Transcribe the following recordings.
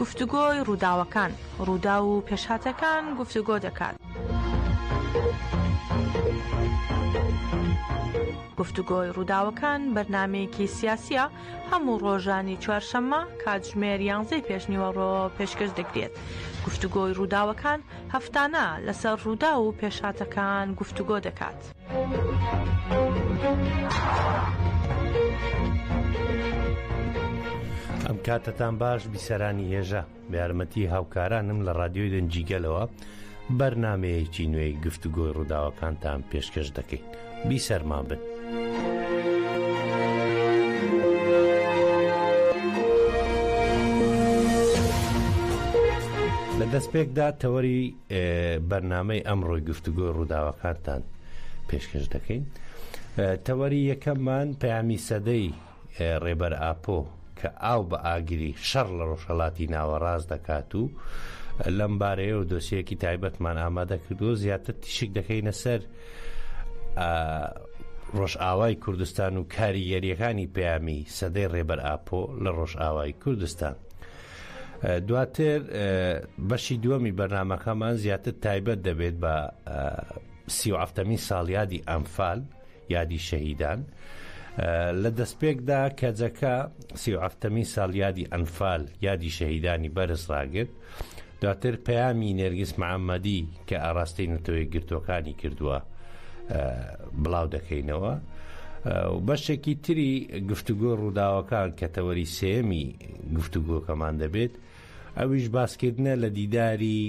گفتوگۆی ڕووداوەکان، ڕووداو و پێشهاتەکان گفتوگۆ دەکات. گفتوگۆی ڕووداوەکان بەرنمەیەکی سیاسیە هەموو ڕۆژانی چوارشەممە کاتژمێر یانزەی پێشنیوەڕۆ پێشکەش دەکرێت گفتوگۆی ڕووداوەکان هەفتانە لەسەر ڕوودا و پێشاتەکان گفتوگۆ دەکات. ئەم کاتتان باش بیسەرانی هێژە بە یارمەتی هاوکارانم لە ڕادیۆی دەنجیگەلەوە بەرنمەیەکی نوێی گفتوگۆی ڕووداوەکانتان پێشکەش دەکەین بیسەرما بن. لە دەستپێکدا تەوەری بەرنامەی ئەمڕۆی گفتوگۆی ڕووداوەکانتان پێشکەش دەکەین تەوەری یەکەممان پەیامی سەدەی ڕێبەر ئاپۆ کە ئاو بە ئاگری شەڕ لە ڕۆژهڵاتی ناوەڕاست دەکات و لەم بارەیە و دۆسیەکی تایبەتمان ئامادە کردووە زیاتر تیشک دەکەینە سەر ڕۆژئاوای کوردستان و کاریگەریەکانی پەیامی سەدەی ڕێبەر ئاپۆ لە ڕۆژئاوای کوردستان. دواتر بەشی دووەمی بەرنمەکەمان زیاتر تایبەت دەبێت بە سیافتەمی ساڵیادی ئەمفال یادی شەهیدان لە دەستپێکدا کەجەکە سیافتەمی ساڵیادی ئەنفال یادی شەهیدانی بەرز ڕاگرت دواتر پەیامی نێرگز محەممەدی کە ئاراستەی نەتەوەی گرتوەکانی کردووە بڵاو دەکەینەوە بەشێکی تری گفتوگۆ ڕووداوەکان کە تەوەری سێمی گفتوگۆکەمان دەبێت ئەویش باسکردنە لە دیداری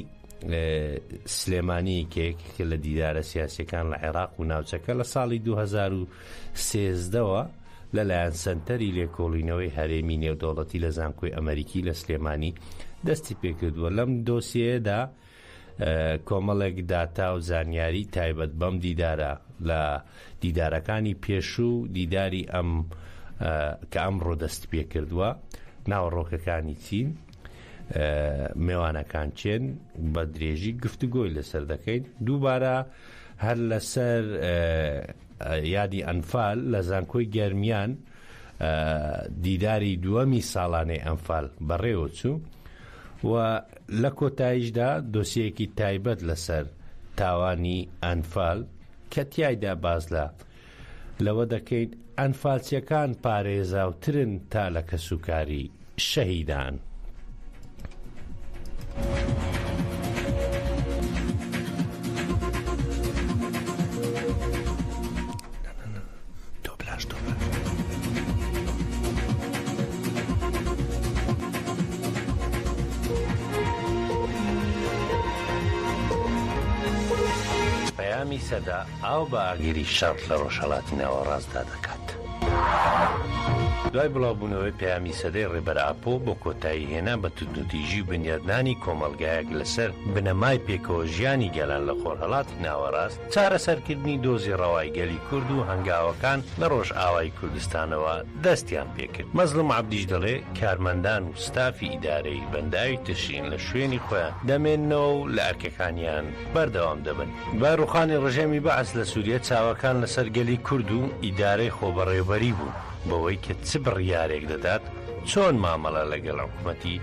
سلێمانی کێک کە لە دیدارە سیاسەکان لە عێراق و ناوچەکە لە ساڵی 2013ەوە لەلایەن سنتەری لێکۆڵینەوەی هەرێمی نێودەوڵەتی لە زانکۆی ئەمریکی لە سلێمانی دەستی پێکردووە لەم دۆسیەیەدا کۆمەڵێک داتا و زانیاری تایبەت بەم دیدارە لە دیدارەکانی پێشوو دیداری ئەم کە ئەم ڕۆدەست پێ کردووە ناوەڕۆکەکانی چین مێوانەکان چێن بە درێژی گفتوگۆی لەسەر دەکەین دووبارە هەر لەسەر یادی ئەنفال لە زانکۆی گەرمیان دیداری دووەمی ساڵانەی ئەمفال بەڕێوە چوو و لە کۆتاییشدا دۆسیەیەکی تایبەت لەسەر تاوانی ئەنفال کە تیایدا باس لە لەوە دەکەین ئەنفالچیەکان پارێزاوترن تا لە کەسوکاری شەهیدان. دۆبلاژ دۆبلاژ. پەیامی سەدە ئاو بە ئاگری شەڕ لە ڕۆژهەڵاتی ناوەڕاستدا دەکات. دوای بڵاوبوونەوەی پەیامی سەدەی ڕێبەر ئاپۆ بۆ کۆتایی هێنان بە توندوتیژی و بنیادنانی کۆمەڵگایەک لەسەر بنەمای پێکەوەژیانی گەلان لە خۆرهەڵاتی ناوەڕاست، چارەسەرکردنی دۆزی ڕەوای گەلی کورد و هەنگاوەکان لە ڕۆژئاوای کوردستانەوە دەستیان پێکرد. مەزڵوم عەبدیش دەڵێ، کارمەندان و ستافی ئیدارەی بەنداوی ترشین لە شوێنی خۆیان دەمێننەوە و لە ئەرکەکانیان بەردەوام دەبن. دوای ڕووخانی ڕژێمی بەعس لە سووریە، چاوەکان لەسەر گەلی کورد و ئیدارەی خۆبەڕێوبەری بوون بەوەی کە چ بڕیارێک دەدات، چۆن مامەڵە لەگەڵ حکومەتی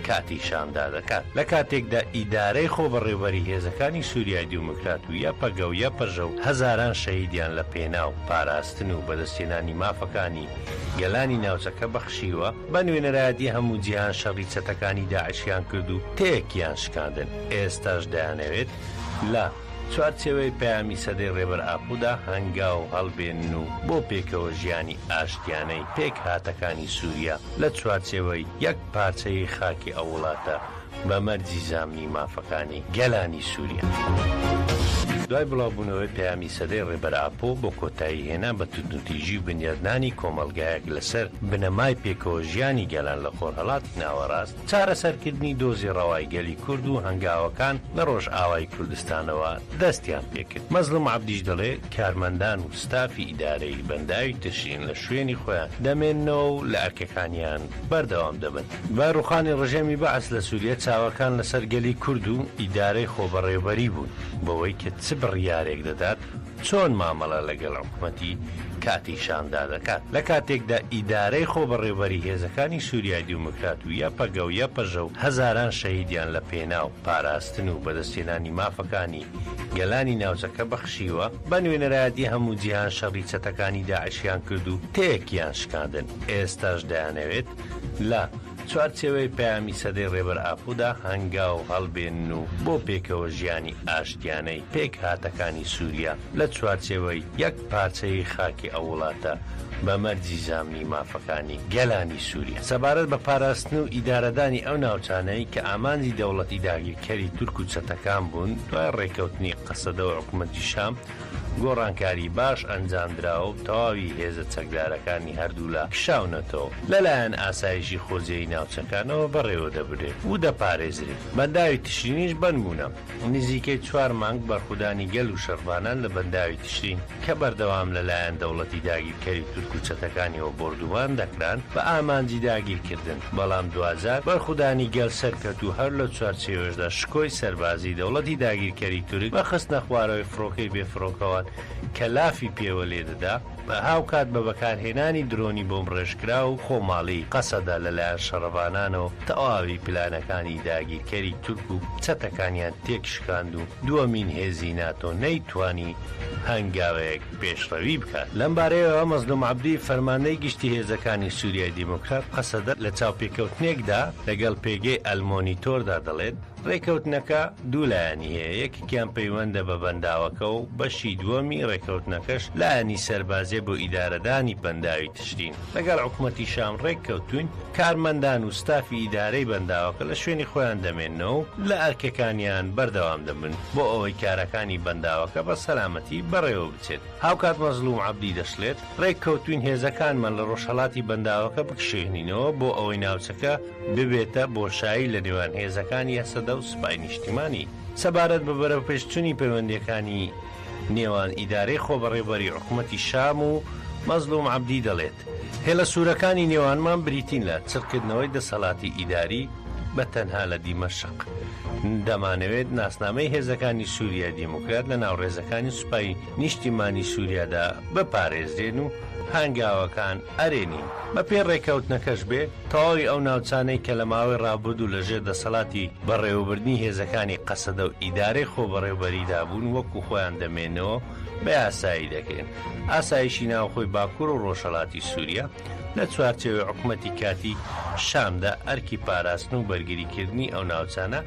کاتی شامدا دەکات لە کاتێکدا ئیدارەی خۆبەڕێوبەری هێزەکانی سوریای دیوموکرات و یەپەگە و یەپەژە و هەزاران شەهیدیان لە پێناو پاراستن و بەدەستهێنانی مافەکانی گەلانی ناوچەکە بەخشیوە بە نوێنەرایەتی هەموو جیهان شەڕی چەتەکانی داعشیان کرد و تەیەکیان شکاندن ئێستاش دەیانەوێت لە چوارچێوەی پەیامی سەدەی ڕێبەر ئاپۆدا هەنگاو هەڵبێنن و بۆ پێکەوە ژیانی ئاشتیانەی پێکهاتەکانی سوریا لە چوارچێوەی یەک پارچەیی خاکی ئەو وڵاتە بە مەرجی زامنی مافەکانی گەلانی سوریا. دوای بڵاوبوونەوەی پەیامی سەدەی ڕێبەر ئاپۆ بۆ کۆتایی هێنان بە توندوتیژی و بنیادنانی کۆمەڵگایەک لەسەر بنەمای پێکەوە ژیانی گەلان لە خۆرهەڵاتی ناوەڕاست، چارەسەرکردنی دۆزی ڕەوای گەلی کورد و هەنگاوەکان لە ڕۆژئاوای کوردستانەوە دەستیان پێکرد. مەزڵوم عەبدیش دەڵێ، کارمەندان و ستافی ئیدارەی بەنداوی ترشین لە شوێنی خۆیان دەمێننەوە و لە ئەرکەکانیان بەردەوام دەبن. دوای ڕووخانی ڕژێمی بەعس لە سووریە، چاوەکان لەسەر گەلی کورد و ئیدارەی خۆبەڕێوبەری بوون، بەوەی کە چ بڕیارێک دەدات، چۆن مامەڵە لەگەڵ حکومەتی کاتیی شامدا دەکات، لە کاتێکدا ئیدارەی خۆبەڕێوەبەری هێزەکانی سووریای دیموکرات و یەپەگە و یەپەژە و هەزاران شەهیدیان لە پێناو پاراستن و بەدەستهێنانی مافەکانی گەلانی ناوچەکە بەخشیوە بە نوێنەرایەتی هەموو جیهان شەڕی چەتەکانی داعشیان کرد و تەیەکیان شکاندن ئێستاش دەیانەوێت لە چوارچێوەی پەیامی سەدەی ڕێبەر ئاپۆدا هەنگاو هەڵبێنن و بۆ پێکەوە ژیانی ئاشتیانەی پێکهاتەکانی سوریا لە چوارچێوەی یەک پارچەیی خاکی ئەو وڵاتە بە مەرجی زامنی مافەکانی گەلانی سوریا سەبارەت بە پاراستن و ئیدارەدانی ئەو ناوچانەی کە ئامانجی دەوڵەتی داگیرکەری تورک و چەتەکان بوون دوای ڕێکەوتنی قەسەدە و حکومەتی شام گۆڕانکاری باش ئەنجامدرا و تەواوی هێزە چەکدارەکانی هەردوولا کشاونەتەوە، لەلایەن ئاسایشی خۆجێی ناوچەکانەوە بەڕێوەدەبرێن و دەپارێزرێن. بەنداوی تشرینیش بەند بوونە. نزیکەی چوار مانگ بەرخودانی گەل و شەڕڤانان لە بەنداوی تشرین کە بەردەوام لەلایەن دەوڵەتی داگیرکەری تورک و چەتەکانیەوە بۆردومان دەکران بە ئامانجی داگیرکردن، بەڵام دواجار بەرخودانی گەل سەرکەت و هەر لەو چوارچێوەشدا شکۆی سەربازیی دەوڵەتی داگیرکەری تورک بە خستنەخوارەوەی فڕۆکەی بێفڕۆکەوان کە لافی پێوە لێدەدا، هاوکات بە بەکارهێنانی درۆنی بۆمبڕێژکراو و خۆماڵی، قەسەدە لەلایەن شەڕڤانانەوە تەواوی پلانەکانی داگیرکەری تورک و چەتەکانیان تێکشکاند و دووەمین هێزی ناتۆ نەیتوانی هەنگاوێک پێشڕەوی بکات. لەم بارەیەوە مەزلوم عەبدی فەرماندەی گشتی هێزەکانی سوریای دیموکرات قەسەدە لە چاوپێکەوتنێکدا لەگەڵ پێگەی ئەلمۆنیتۆردا دەڵێت، ڕێکەوتنەکە دوو لایەنی هەیە، یەکێکیان پەیوەندە بە بەنداوەکە و بەشی دووەمی ڕێکەوتنەکەش لایەنی سەربازیە بۆ ئیدارەدانی بەنداوی تشرین. لەگەڵ حکومەتی شام ڕێککەوتووین، کارمەندان و ستافی ئیدارەی بەنداوەکە لە شوێنی خۆیان دەمێننەوە و لە ئەرکەکانیان بەردەوام دەبن بۆ ئەوەی کارەکانی بەنداوەکە بە سەلامەتی بەڕێوەبچێت. هاوکات مەزڵوم عەبدی دەشڵێت، ڕێککەوتووین هێزەکانمان لە ڕۆژهەڵاتی بەنداوەکە بکشێنینەوە بۆ ئەوەی ناوچەکە ببێتە بۆشایی لە نێوان هێزەکانی هەسەدە و سوپای نیشتیمانی. سەبارەت بە بەرەوپێشچوونی پەیوەندییەکانی. نێوان ئیدارەی خۆبەڕێوەبەری حکومەتی شام و مەزڵوم عەبدی دەڵێت، هێڵە سوورەکانی نێوانمان بریتین لە چڕکردنەوەی دەسەڵاتی ئیداری بە تەنها لە دیمەشق. دەمانەوێت ناسنامەی هێزەکانی سووریای دیموکرات لە ناو ڕێزەکانی سوپای نیشتیمانی سووریادا بپارێزرێن و هانگاوەکان ئەرێ نین، بەپێی ڕێکەوتنەکەش بێ تەواوی ئەو ناوچانەی کە لە ماوەی ڕابردوو لە ژێر دەسەڵاتی بەڕێوەبردنی هێزەکانی قەسەدە و ئیدارەی خۆبەڕێوبەریدا بوون وەکو خۆیان دەمێنەوە بە یاسایی دەکرێن ئاسایشی ناوخۆی باکور و ڕۆژهەڵاتی سوریا لە چوارچێوەی حکومەتی کاتی شامدا ئەرکی پاراستن و بەرگریکردنی ئەو ناوچانە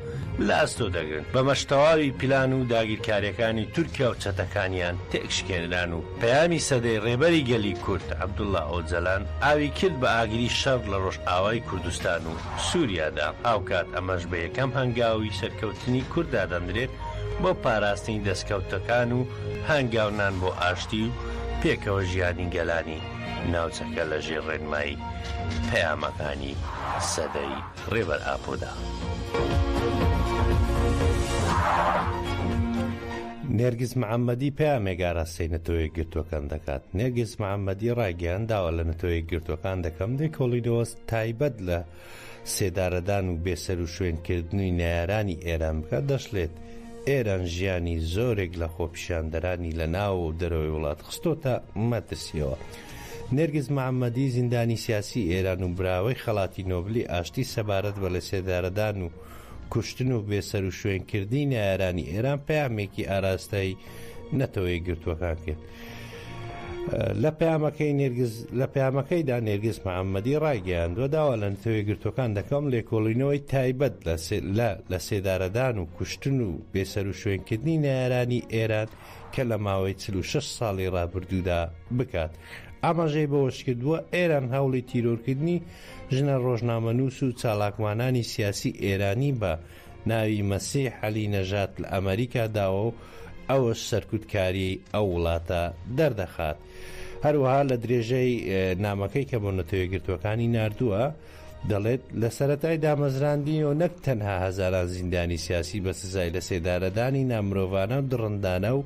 لە ئەستۆ دەگرن بەمەش تەواوی پیلان و داگیرکاریەکانی تورکیا و چەتەکانیان تێکشکێنران و پەیامی سەدەی ڕێبەری گەلی کورد عەبدوڵا ئۆجەلان ئاوی کرد بە ئاگری شەڕ لە ڕۆژئاوای کوردستان و سوریادا، هاوکات ئەمەش بە یەکەم هەنگاوی سەرکەوتنی کورد دادەنرێت بۆ پاراستنی دەستکەوتەکان و هانگاونان بۆ ئاشتی و پێکەوە ژیانی گەلانی ناوچەکە لە ژێر ڕێنمایی پەیامەکانی سەدەی ڕێبەر ئاپۆدا. نێرگز محەممەدی پەیامێک ئاراستەی نەتەوە یەکگرتووەکان دەکات نێرگز محەممەدی ڕایگەیاند داوا لە نەتەوە یەکگرتووەکان دەکەم لێکۆڵینەوە تایبەت لە سێدارەدان و بێسەروشوێنکردنی نەیارانی ئێران بکات دەشڵێت ئێران ژیانی زۆرێک لە خۆپیشاندەرانی لە ناو و دەرەوەی وڵات خستۆتە مەترسیەوە نێرگز محەممەدی زیندانی سیاسی ئێران و براوەی خەڵاتی نۆبلی ئاشتی سەبارەت بە لە سێدارەدان و کوشتن و بێسەروشوێن کردنی نەیارانی ئێران پەیامێکی ئاراستەی نەتەوە یەکگرتووەکان کرد. لە پەیامەکەی نێرگز لە پەیامەکەیدا نێرگز محەممەدی ڕایگەیاندوە داوا لە نتەوەی گرتوەکان دەکەم لێکۆڵینەوەی تایبەت لە لە لە سێدارەدان و کوشتن و بێسەر و شوێنکردنی نارانی ئێران کە لە ماوەی 46 ساڵی ڕابردوودا بکات ئاماژەی بەوەشکردووە ئێران هەوڵی تیرۆرکردنی ژنە ڕۆژنامەنووس و چالاکوانانی سیاسی ئێرانی بە ناوی مەسیح عەلی نەژاد لە ئەمەریکا داوە و ئەوەش سەرکوتکاریی ئەو وڵاتە دەردەخات. هەروەها لە درێژەی نامەکەی کە بۆ نەتەوە یەکگرتووەکانی ناردووە، دەڵێت لە سەرەتای دامەزراندنیەوە نەک تەنها هەزاران زیندانی سیاسی بە سزای لەسێدارەدانی نامرۆڤانە و دڕندانە و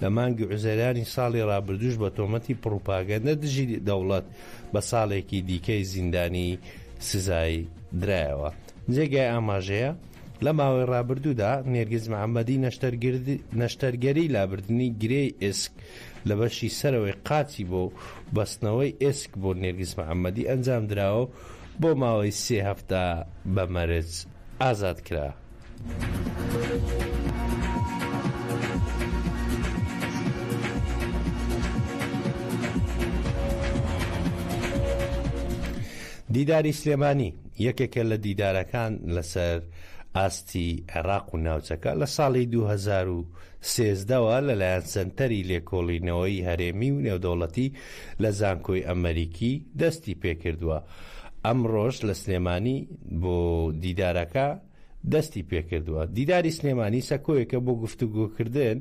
لە مانگی عوزەرانی ساڵی ڕابردوش بە تۆمەتی پڕوپاگەندە دژی دەوڵەت بە ساڵێکی دیکەی زیندانی سزای درایەوە جێگای ئاماژەیە لە ماوەی ڕابردوودا نێرگز محەممەدی نەشتەرگەری لابردننی گرێی ئسک لە بەشی سەرەوەی قاچی بۆ بەستنەوەی ئسک بۆ نێرگز محەممەدی ئەنجام درراوە بۆ ماوەی سێ هەفتە بە مەرج ئازاد کرا. دیداری سلێمانی یەکێکە لە دیدارەکان لەسەر ئاستی عێراق و ناوچەکە لە ساڵی 2013ەوە لەلایەن سنتەری لێکۆڵینەوەی هەرێمی و نێودەوڵەتی لە زانکۆی ئەمریکی دەستی پێکردووە ئەمڕۆش لە سلێمانی بۆ دیدارەکە دەستی پێکردووە. دیداری سلێمانی سەکۆیەکە بۆ گفتوگۆکردن،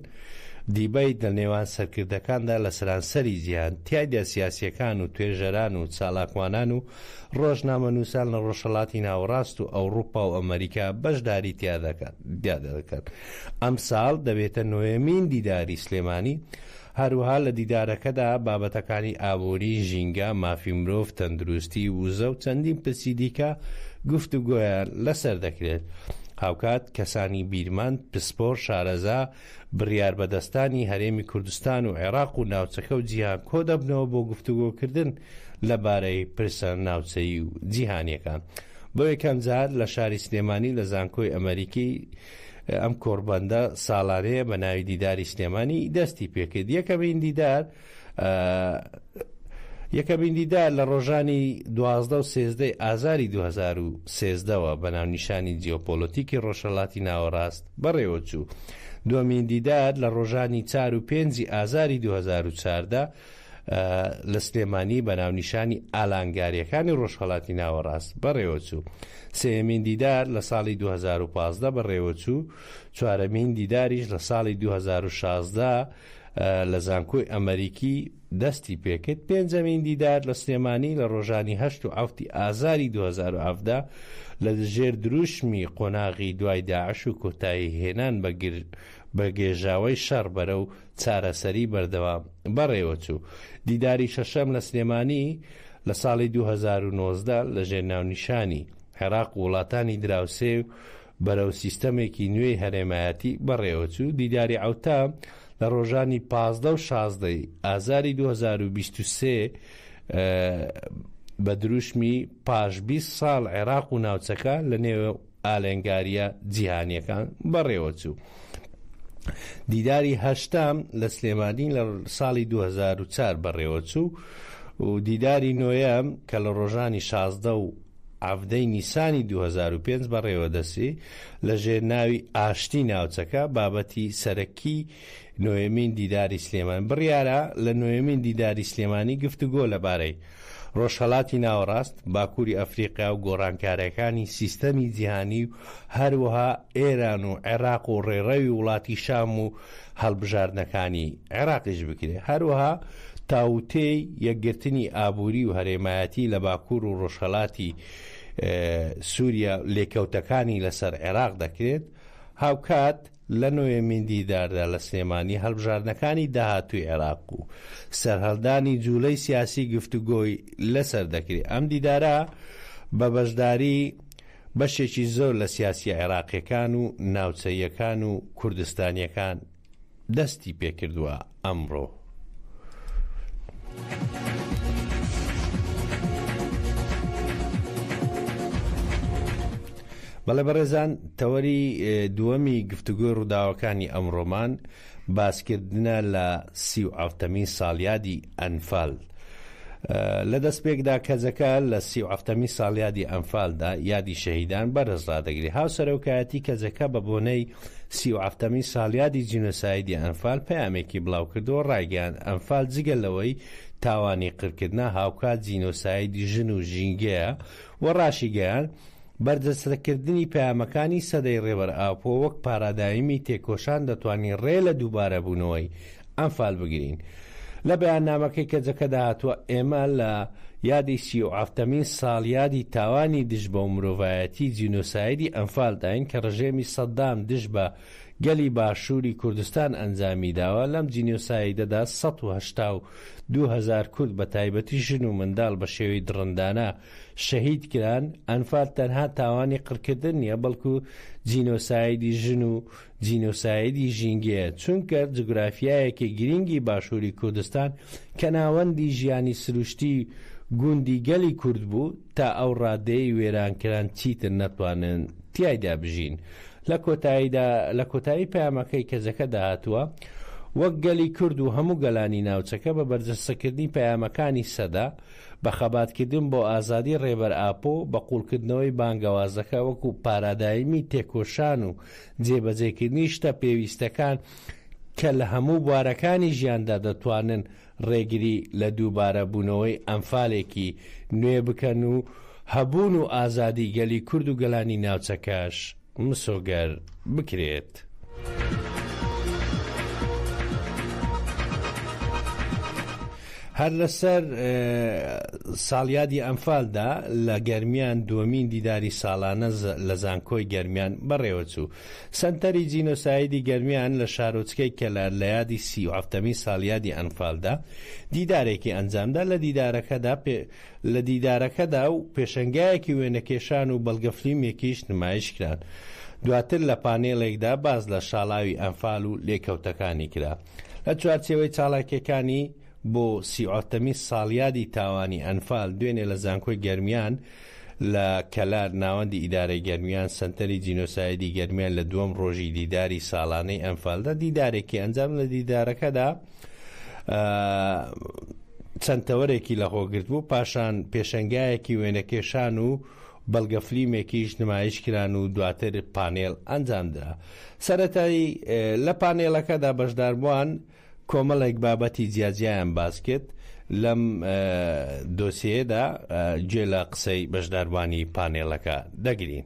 دیبەیت، لە نێوان سەرکردەکاندا لە سەرانسەری جیهان، تیایدا سیاسییەکان و توێژەران و چالاکوانان و ڕۆژنامەنووسان لە ڕۆژهەڵاتی ناوەڕاست و ئەوڕوپا و ئەمەریکا بەشداری تیادەکەن. ئەمساڵ دەبێتە نۆیەمین دیداری سلێمانی، هەروەها لە دیدارەکەدا بابەتەکانی ئابووری، ژینگە، مافی مرۆڤ، تەندروستی، وزە و چەندین پرسی دیکە گفتوگۆیان لەسەر دەکرێت. هاوکات کەسانی بیرمەند، پسپۆر، شارەزا، بڕیاربەدەستانی هەرێمی کوردستان و عێراق و ناوچەکە و جیهان کۆدەبنەوە بۆ گفتوگۆکردن لەبارەی پرسە ناوچەیی و جیهانییەکان. بۆ یەکەمجار لە شاری سلێمانی لە زانکۆی ئەمەریکی، ئەم کۆڕبەندە ساڵانەیە بە ناوی دیداری سلێمانی دەستی پێکرد یەکەمین دیدار یەکەمین دیدار لە ڕۆژانی دوازدە و سێزدەی ئازاری 2013ەوە بە ناونیشانی جیۆپۆلۆتیکی ڕۆژهڵاتی ناوەڕاست بەڕێوەچوو دومین دیدار لە ڕۆژانی چار و پێنجی ئازاری 2014 لە سلێمانی بە ناونیشانی ئالانگاریەکانی ڕۆژهەڵاتی ناوەڕاست بەڕێوەچوو سێمین دیدار لە ساڵی 2015 بەڕێوەچوو چوارەمین دیداریش لە ساڵی 2016 لە زانکۆی ئەمریکی دەستی پێکرد پێنجەمین دیدار لە سلێمانی لە ڕۆژانی هەشت و ئەفتی ئازاری 2017 لە دژێر دروشمی قۆناغی دوای داعش و کۆتایی هێنان بەگر بە گێژاوەی شەڕ بەرە و چارەسەری بەردەوام بەڕێوەچوو. دیداری شەشەم لە سلێمانی لە ساڵی دوو هەزار و نۆزدە لەژێر ناونیشانی، عێراق و وڵاتانی دراوسێ بەرەو سیستەمێکی نوێی هەرێمایەتی، بەڕێوەچوو، دیداری عەوتا لە ڕۆژانی پازدە و شازدە ی ئازاری دوو هەزار و بیست و سێ بە دروشمی، پاش بیست ساڵ عێراق و ناوچەکە لەنێو. ئالنگارییە جیهانییەکان بەڕێوە چوو. دیداری هەشتام لە سلێمانی لە ساڵی 2004 بەڕێوە چوو و دیداری نۆیەم کە لە ڕۆژانی شازدە و ئەفدەی نیسانی 2005 بەڕێوەدەسی لە ژێر ناوی ئاشتی ناوچەکە بابەتی سەرەکی نۆیەمین دیداری سلێمانی، بڕیارە لە نۆیەمین دیداری سلێمانی گفتوگۆ لەبارەی رۆژهەڵاتی ناوەڕاست، باکووری ئەفریقیا و گۆڕانکارییەکانی سیستەمی جیهانی و هەروەها ئێران و عێراق و ڕێڕەوی وڵاتی شام و هەڵبژاردنەکانی عێراقیش بکرێت، هەروەها تاووتێی یەکگرتنی ئابووری و هەرێمایەتی لە باکوور و رۆژهەڵاتی سووریا لێکەوتەکانی لەسەر عێراق دەکرێت، هاوکات. لە نۆیەمین دیداردا لە سلێمانی هەڵبژاردنەکانی داهاتووی عێراق و سەرهەڵدانی جووڵەی سیاسی گفتوگۆی لەسەر دەکرێت، ئەم دیدارە بە بەشداری بەشێکی زۆر لە سیاسییە عێراقییەکان و ناوچەییەکان و کوردستانییەکان دەستی پێکردووە. ئەمڕۆ. بەڵێ بەڕێزان تەوەری دووەمی گفتوگۆی ڕووداوەکانی ئەمڕۆمان باسکردنە لە سی و ئەفتەمین ساڵیادی ئەنفال لە دەستپێکدا کەزەکە لە سی و ئەفتەمی ساڵیادی ئەمفالدا یادی شەهیدان بەرز ڕدەگری هاوسەرۆکایەتی کەزەکە بە بۆنەی سی و هەفتەمین ساڵیادی جینۆسایدی ئەنفال پەیامێکی بڵاوکردەوە ڕایگەیاند ئەنفال جگە لەوەی تاوانی قرکردنە هاوکات جینۆسایدی ژن و ژینگەیە و ڕاشیگەیاند بەرجەستەکردنی پەیامەکانی سەدەی ڕێبەر ئاپۆ وەک پارادایمی تێکۆشان دەتوانین ڕێ لە دووبارەبوونەوەی ئەنفال بگرین. لە بەیاننامەکەی کەجەکەدا هاتووە، ئێمە لە یادی سی و حەفتەمین ساڵیادی تاوانی دژ بە مرۆڤایەتی جینۆسایدی ئەنفالداین کە ڕژێمی سەدام دژ بە گەلی باشووری کوردستان ئەنجامی داوە، لەم جینۆسایدەدا سەد و هەشتا و دوو هەزار کورد بە تایبەتی ژن و منداڵ بە شێوەی دڕندانە شەهید کران، ئەنفال تەنها تاوانی قڕکردن نییە بەڵکو جینۆسایدی ژن و جینۆسایدی ژینگەیە، چونکە جوگرافیایەکی گرینگی باشووری کوردستان کە ناوەندی ژیانی سروشتی گوندی گەلی کورد بوو، تا ئەو ڕادەیەی وێران کران چیتر نەتوانن تیایدا بژین. لە کۆتاییدا، لە کۆتایی پەیامەکەی کەجەکەدا هاتووە، وەک گەلی کورد و هەموو گەلانی ناوچەکە بە بەرجەستەکردنی پەیامەکانی سەدە، بە خەباتکردن بۆ ئازادی ڕێبەر ئاپۆ، بە قووڵکردنەوەی بانگەوازەکە وەکو پارادایمی تێکۆشان و جێبەجێکردنی شتە پێویستەکان کە لە هەموو بوارەکانی ژیاندا دەتوانن ڕێگری لە دووبارەبوونەوەی ئەنفالێکی نوێ بکەن و هەبوون و ئازادی گەلی کورد و گەلانی ناوچەکەش مسۆگەر بکرێت. هەر لەسەر ساڵیادی ئەنفالدا لە گەرمیان دووەمین دیداری ساڵانە لە زانکۆی گەرمیان بەڕێوەچوو. سەنتەری جینۆسایدی گەرمیان لە شارۆچکەی کەلار لە یادی سی و حەفتەمین ساڵیادی ئەنفالدا دیدارێکی ئەنجامدا لە دیدارەکەدا لە دیدارەکەدا و پێشەنگایەکی وێنەکێشان و بەڵگەفلیمێکیش نمایشکران. دواتر لە پانێڵێکدا باس لە شاڵاوی ئەنفال و لێکەوتەکانی کرا. لە چوارچێوەی چالاکییەکانی بۆ سی ئۆتەمی ساڵیادی تاوانی ئەنفال دوێنێ لە زانکۆی گەرمیان لە کەلار ناوەندی ئیدارەی گەرمیان سەنتەری جینۆسایدی گەرمیان لە دووەم ڕۆژی دیداری ساڵانەی ئەنفالدا دیدارێکی ئەنجام لە دیدارەکەدا چەند تەوەرێکی لە خۆگرت بوو پاشان پێشەنگایەکی وێنەکێشان و بەڵگە فلیمێکیش نمایش کران و دواتر پانێڵ ئەنجامدرا. سەرەتای لە پانێڵەکەدا بەشداربووان کۆمەڵێک بابەتی جیاجیایان باس کرد لەم دۆسێیەدا گوێ لە قسەی بەشداربووانی پانێڵەکە دەگرین.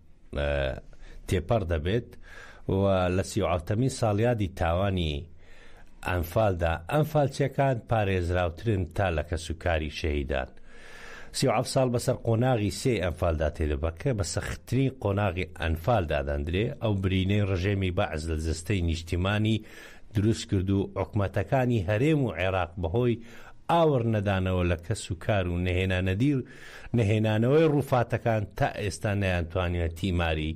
تێپەڕ دەبێت و لە سی و حەوتەمین ساڵیادی تاوانی ئەنفالدا ئەنفالچیەکان پارێزراوترن تا لە کەس و کاری شەهیدان سی و حەفت ساڵ بەسەر قۆناغی سێ ئەنفالدا تێدەبەکە بە سەختترین قۆناغی ئەنفال دادەندرێ ئەو برینەی ڕژێمی بەعز لە جستەی نیشتیمانی دروست کرد و حکومەتەکانی هەرێم و عێراق بەهۆی ئاوڕ نەدانەوە لە کەس و کار و نەهێنانەدی نەهێنانەوەی ڕووفاتەکان تا ئێستا نەیانتوانیوە تیماری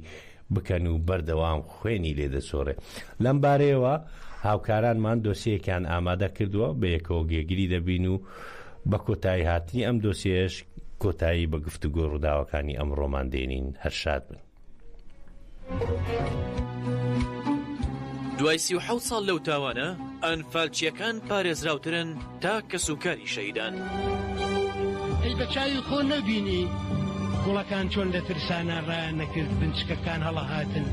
بکەن و بەردەوام خوێنی لێ دەچۆرێ. لەم بارەیەوە هاوکارانمان دۆسیەیەکیان ئامادە کردووە، بەیەکەوە گێگری دەبین و بە کۆتایی هاتنی ئەم دۆسیەیەش کۆتایی بە گفتوگۆی ڕووداوەکانی ئەمڕۆمان دێنین. هەر شاد بن. دوای سی و حەوت ساڵ لەو تاوانە ئەنفالچیەکان پارێزراوترن تا کەس و کاری شەیدان ئەی بە چاوی خۆ نەبینی گوڵەکان چۆن لە ترسانە ڕایان نەکرد بنچکەکان هەڵەهاتن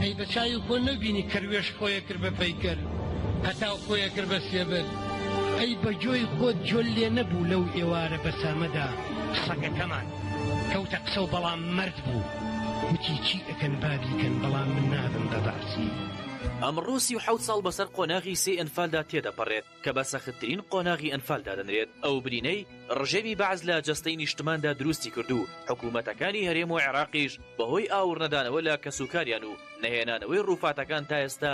ئەی بە چاوی خۆ نەبینی کەروێش خۆیە کرد بە پەیکەر هەتا خۆیە کرد بە سێبەر ئەی بە جۆی خۆت جۆل لێ نەبوو لەو ئێوارە بەسامەدا سەگەکەمان. کەوتە قسەو بەڵام مەرد بوو وتی چی ئەکەن با بیکەن بەڵام من نابم بە بەعسی. ئەمڕۆ سی و حەوت ساڵ بەسەر قۆناغی سێی ئەنفالدا تێدەپەڕێت کە بە سەختترین قۆناغی ئەنفال دادەنرێت ئەو برینەی ڕژێمی بەعس لە جەستەی نیشتماندا دروستی کرد و حکوومەتەکانی هەرێم و عێراقیش بەهۆی ئاوڕنەدانەوە لە کەسوکاریان و نەهێنانەوەی ڕووفاتەکان تا ئێستا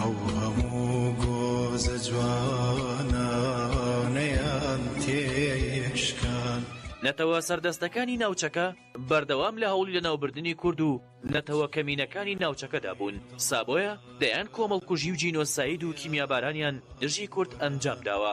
ئەو هەموو گۆزە جوانانەیان تێشکان. نەتەوە سەردەستەکانی ناوچەکە بەردەوام لە هەوڵی لەناوبردنی کورد و نەتەوە کەمینەکانی ناوچەکەدا بوون، سابۆیە دەیان کۆمەڵکوژی و جینۆساید و کیمیابارانیان دژی کورد ئەنجام داوە،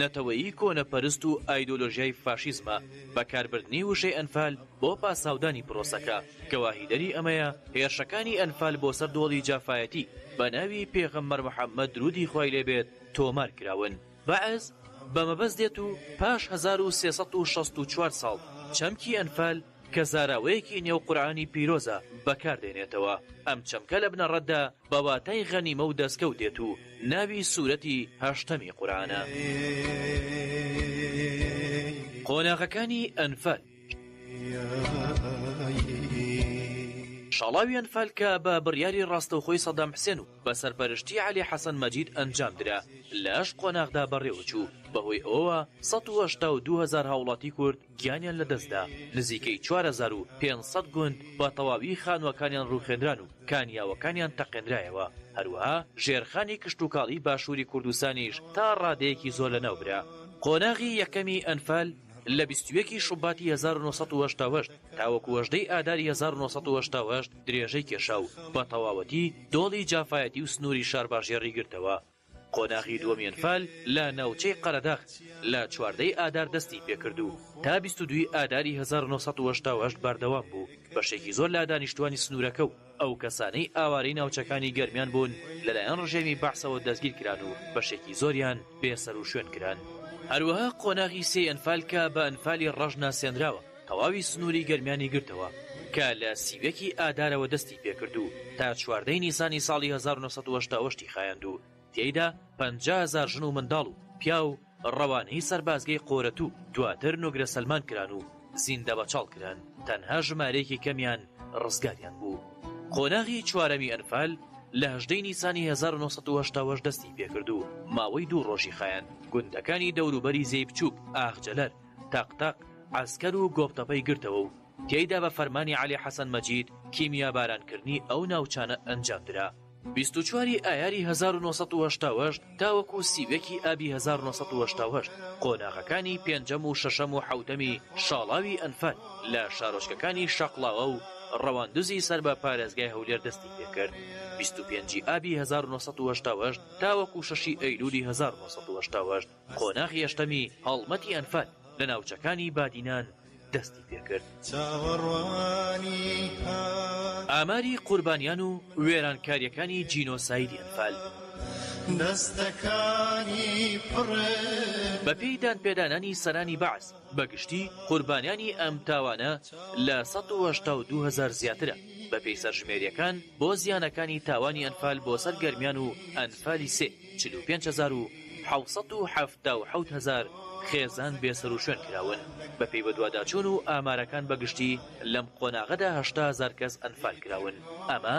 نەتەوەیی کۆنەپەرست و ئایدۆلۆژیای فاشیزمە، بەکاربردنی وشەی ئەنفال بۆ پاساودانی پرۆسەکە، گەواهیدەری ئەمەیە هێرشەکانی ئەنفال بۆ سەر دۆڵی جافایەتی بە ناوی پێغەمبەر محەممەد دروودی خوای لێ بێت تۆمار کراون. بەعس بە مەبەست دێت و پاش هەزار و سێ سەد و شەست و چوار ساڵ چەمکی ئەنفال کە زاراوەیەکی نێو قورعانی پیرۆزە بەکار دێنێتەوە. ئەم چەمکە لە بنەڕەتدا بە واتای غەنیمە و دەستکەوت دێت و ناوی سورەتی هەشتەمی قورئانە. قۆناغەکانی ئەنفال. شاڵاوی ئەنفال کە بە بڕیاری ڕاستەوخۆی سەدام حسێن و بە سەرپەرشتی عەلی حەسەن مەجید ئەنجام درا لە هەشت قۆناغدا بەڕێوەچوو، بەهۆی ئەوەوە سەد و هەشتا و دوو هەزار هاوڵاتی کورد، گیانیان لەدەستدا، نزیکەی چوار هەزار و پێنج سەد گوند بە تەواوی خانووەکانیان ڕووخێنران و کانیاوەکانیان تەقێنرایەوە، هەروەها ژێرخانی کشتوکاڵی باشووری کوردستانیش تا ڕادەیەکی زۆر لەناوبرا. قۆناغی یەکەمی ئەنفال لە بیست و یەک ی شوباتی هەزار و نۆ سەد و هەشتا و هەشت تاوەکو هەژدە ی ئاداری هەزار و نۆ سەد و هەشتا و هەشت درێژەی کێشا و بە تەواوەتی دۆڵی جافایەتی و سنووری شارباژێڕی گرتەوە، قۆناغی دووەمی ئەنفال لە ناوچەی قەرەداغ لە چواردەی ئادار دەستی پێکرد و تا بیست و دووی ئاداری هەزار و نۆ سەد و هەشتا و هەشت بەردەوام بوو، بەشێکی زۆر لە دانیشتووانی سنوورەکە و ئەو کەسانەی ئاوارەی ناوچەکانی گەرمیان بوون لەلایەن ڕژێمی بەعسەوە دەستگیرکران و بەشێکی زۆریان بێسەروشوێن کران. هەروەها قۆناغی سێی ئەنفال کە بە ئەنفالی ڕەش ناسێنراوە، تەواوی سنووری گەرمیانی گرتەوە کە لە سی و یەک ی ئادارەوە دەستی پێکرد و تا چواردە ی نیسانی ساڵی هەزار و نۆ سەد و هەشتا و هەشت ی خایاند و تێیدا پەنجا هەزار ژن و منداڵ و پیاو ڕەوانەی سەربازگەی قۆرەت و دواتر نوگرە سەلمان کران و زیندەبەچاڵ کران تەنها ژمارەیەکی کەمیان ڕزگاریان بوو. قۆناغی چوارەمی ئەنفال لە هەژدە ی نیسانی هەزار و نۆ سەد و هەشتا و هەشت دەستی پێکرد و ماوەی دوو ڕۆژی خایاند گوندەکانی دەوروبەری زێی بچووک، ئاغجەلەر، تەق تەق، عەسکەر و گۆپتەپەی گرتەوە و تێیدا بە فەرمانی عەلی حەسەن مەجید کیمیابارانکردنی ئەو ناوچانە ئەنجامدرا. بیست و چوار ی ئایاری هەزار و نۆ سەد و هەشتا و هەشت تاوەکو سی و یەک ی ئابی هەزار و نۆ سەد و هەشتا و هەشت قۆناغەکانی پێنجەم و شەشەم و حەوتەمی شاڵاوی ئەنفال لە شارۆچکەکانی شەقڵاوە و ڕەواندزی سەر بە پارێزگای هەولێر دەستی پێکرد بیست و پێنج ی ئابی هەزار و نۆ سەد و هەشتا و هەشت تاوەکو شەش ی ئەیلولی هەزار و نۆ سەد و هەشتا و هەشت. قۆناغی هەشتەمی هەڵمەتی ئەنفال لە ناوچەکانی بادینان دەستی پێکرد. ئاماری قوربانیان و وێرانکارییەکانی جینۆسایدی ئەنفال. بەپێی دانپێدانانی سەرانی بەعس، بە گشتی قوربانیانی ئەم تاوانە لە سەد و هەشتا و دوو هەزار زیاترە، بەپێی سەرژمێرییەکان بۆ زیانەکانی تاوانی ئەنفال بۆ سەر گەرمیان و ئەنفالی سێ. چل و پێنج هەزار و حەوت سەد و حەفتا و حەوت هەزار خێزان بێسەروشوێن کراون، بەپێی بەدواداچوون و ئامارەکان بەگشتی لەم قۆناغەدا هەشتا هەزار کەس ئەنفال کراون، ئەمە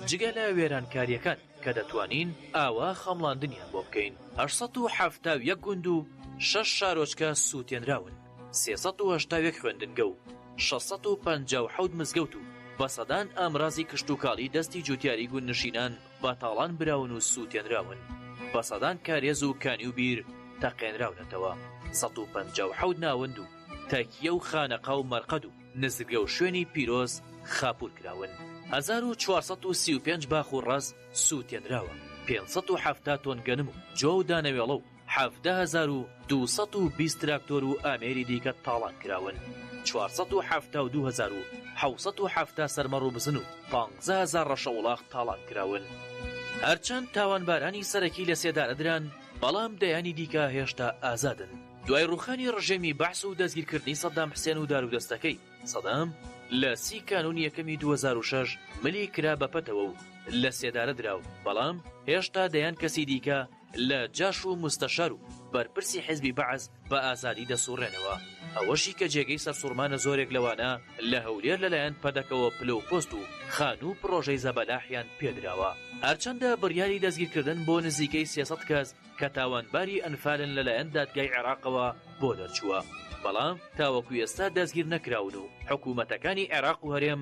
جگە لە وێرانکارییەکان کە دەتوانین ئاوا خەمڵاندنیان بۆ بکەین. هەشت سەد و حەفتا و یەک گوند و شەش شارۆچکە سووتێنراون، سێ سەد و هەشتا و یەک خوێندنگە و شەش سەد و پەنجا و حەوت مزگەوت و بە سەدان ئامرازی کشتوکاڵی دەستی جووتیاری گوندنشینان بە تاڵان براون و سووتێنراون، بە سەدان کارێز و کانی و بیر تەقێنراونەتەوە، سەد و پەنجا و حەوت ناوەند و تەکیە و خانەقا و مەرقەد و نزرگە و شوێنی پیرۆز خاپوور کراون، هەزار و چوار سەد و سی و پێنج باخ و ڕەز سووتێنراوە، پێنج سەد و حەفتا تۆن گەنم و جۆ و دانەوێڵە و حەڤدە هەزار و دوو سەد و بیست تراکتۆر و ئامێری دیکە تاڵان کراون، چوار سەد و حەفتا و دوو هەزار و حەوت سەد و حەفتا سەرمەڕ و بزن و پانزە هەزار ڕەشەوڵاخ تاڵان کراون. هەرچەند تاوانبارانی سەرەکی لە سێدارە دران، بەڵام دەیانی دیکە هێشتا ئازادن. دوای ڕووخانی ڕژێمی بەعس و دەستگیرکردنی سەدام حسێن و دارودەستەکەی، سەدام لە سی کانوونی یەکەمی دوو هەزار و شەش ملی کرا بە پەتەوە و لە سێدارە درا و بەڵام هێشتا دەیان کەسی دیکە لە جاش و موستەشار و بەرپرسی حیزبی بەعس بە ئازادی دەسوڕێنەوە، ئەوەشی کە جێگەی سەرسوڕمانە زۆرێک لەوانە لە هەولێر لەلایەن پەدەکەوە پلە و پۆست و خانوو و پڕۆژەی زەبەلاحیان پێدراوە، هەرچەندە بڕیاری دەستگیرکردن بۆ نزیکەی سێ سەد کەس کە تاوانباری ئەنفالن لەلایەن دادگای عێراقەوە بۆ دەرچووە، بەڵام تاوەکو ئێستا دەستگیرنەکراون و حکومەتەکانی عێراق و هەرێم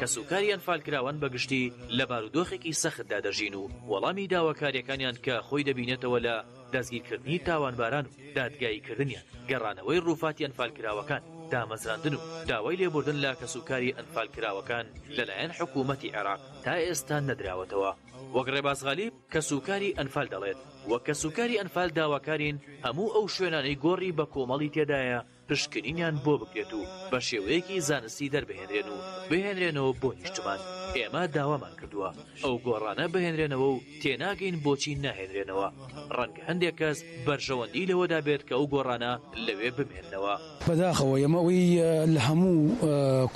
کەسوکاری ئەنفالکراوان بە گشتی لە بارودۆخێکی سەختدا دەژین و وەڵامی داواکاریەکانیان کە خۆی دەبینێتەوە لە دەستگیرکردنی تاوانباران و دادگاییکردنیان، گەڕانەوەی ڕووفاتی ئەنفالکراوەکان، دامەزراندن و داوای لێبوردن لە کەسوکاری ئەنفالکراوەکان لەلایەن حکوومەتی عێراق تا ئێستا نەدراوەتەوە. وەک ڕێباز غالیب، کەسوکاری ئەنفال دەڵێت، وەک کەسوکاری ئەنفال داواکارین هەموو ئەو شوێنانەی گۆڕی بەکۆمەڵی تێدایە، پشکنینیان بۆ بکرێت و بە شێوەیەکی زانستی دەربهێنرێن و بهێنرێنەوە بۆ نیشتمان، ئێمە داوامان کردووە ئەو گۆڕانە بهێنرێنەوە و تێناگەین بۆچی ناهێنرێنەوە، ڕەنگە هەندێک کەس بەرژەوەندی لەوەدا بێت کە ئەو گۆڕانە لەوێ بمێننەوە. بەداخەوە ئێمە ئەوەی لە هەموو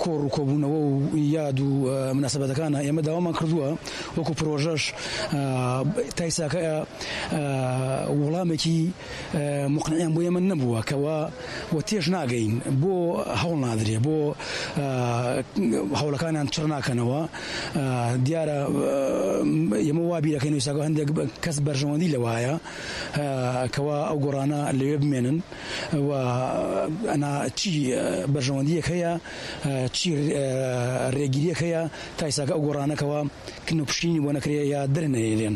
کۆڕ و کۆبوونەوە و یاد و مناسبەتەکانا ئێمە داوامان کردووە وەکو پرۆژەش تایساکە وڵامێکی مقنعیان بۆ ئێمە نەبووە کەوا و تێش ناگەین بۆ هەوڵ نادرێ بۆ هەوڵەکانیان چڕ ناکەنەوە دیارە ئێمە وا بیرەکەین وساگە هەندێک کەس بەرژەوەندی لەوایە کەوا ئەو گۆڕانە لەوێ بمێنن و ئەنا چی بەرژەوەندیەک هەیە چی ڕێگیریەک هەیە تایساکە ئەو گۆڕانەکەەوە کنوپشینی بۆ نەکرێ یا درنەێنێن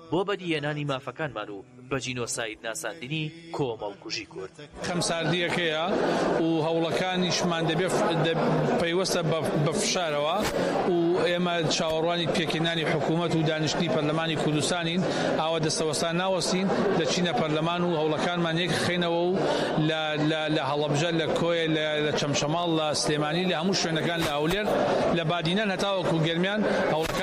بۆ بەدیهێنانی مافەکانمان و بە جینۆساید ناساندنی کۆمەڵکوژی کورد. خەمساردییەکەیە و هەوڵەکانیشمان پەیوەستە بە فشارەوە و ئێمە چاوەڕوانی پێکهێنانی حکوومەت و دانیشتنی پەرلەمانی کوردستانین، ئاوا دەستەوەستان ناوەستین، دەچینە پەرلەمان و هەوڵەکانمان یەکخەینەوە و لە هەڵەبجە، لە کۆیە، لە چەمچەماڵ، لە سلێمانی، لە هەموو شوێنەکان، لە هەولێر، لە بادینان هەتاوەکو گەرمیان هەوڵەکانمان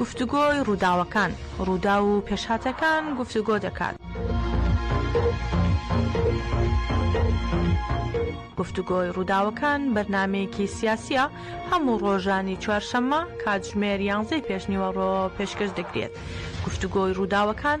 گفتوگۆی ڕووداوەکان، ڕووداو و پێشهاتەکان گفتوگۆ دەکات. گفتوگۆی ڕووداوەکان بەرنمەیەکی سیاسیە هەموو ڕۆژانی چوارشەممە کاتژمێر یانزەی پێشنیوەڕۆ پێشکەش دەکرێت گفتوگۆی ڕووداوەکان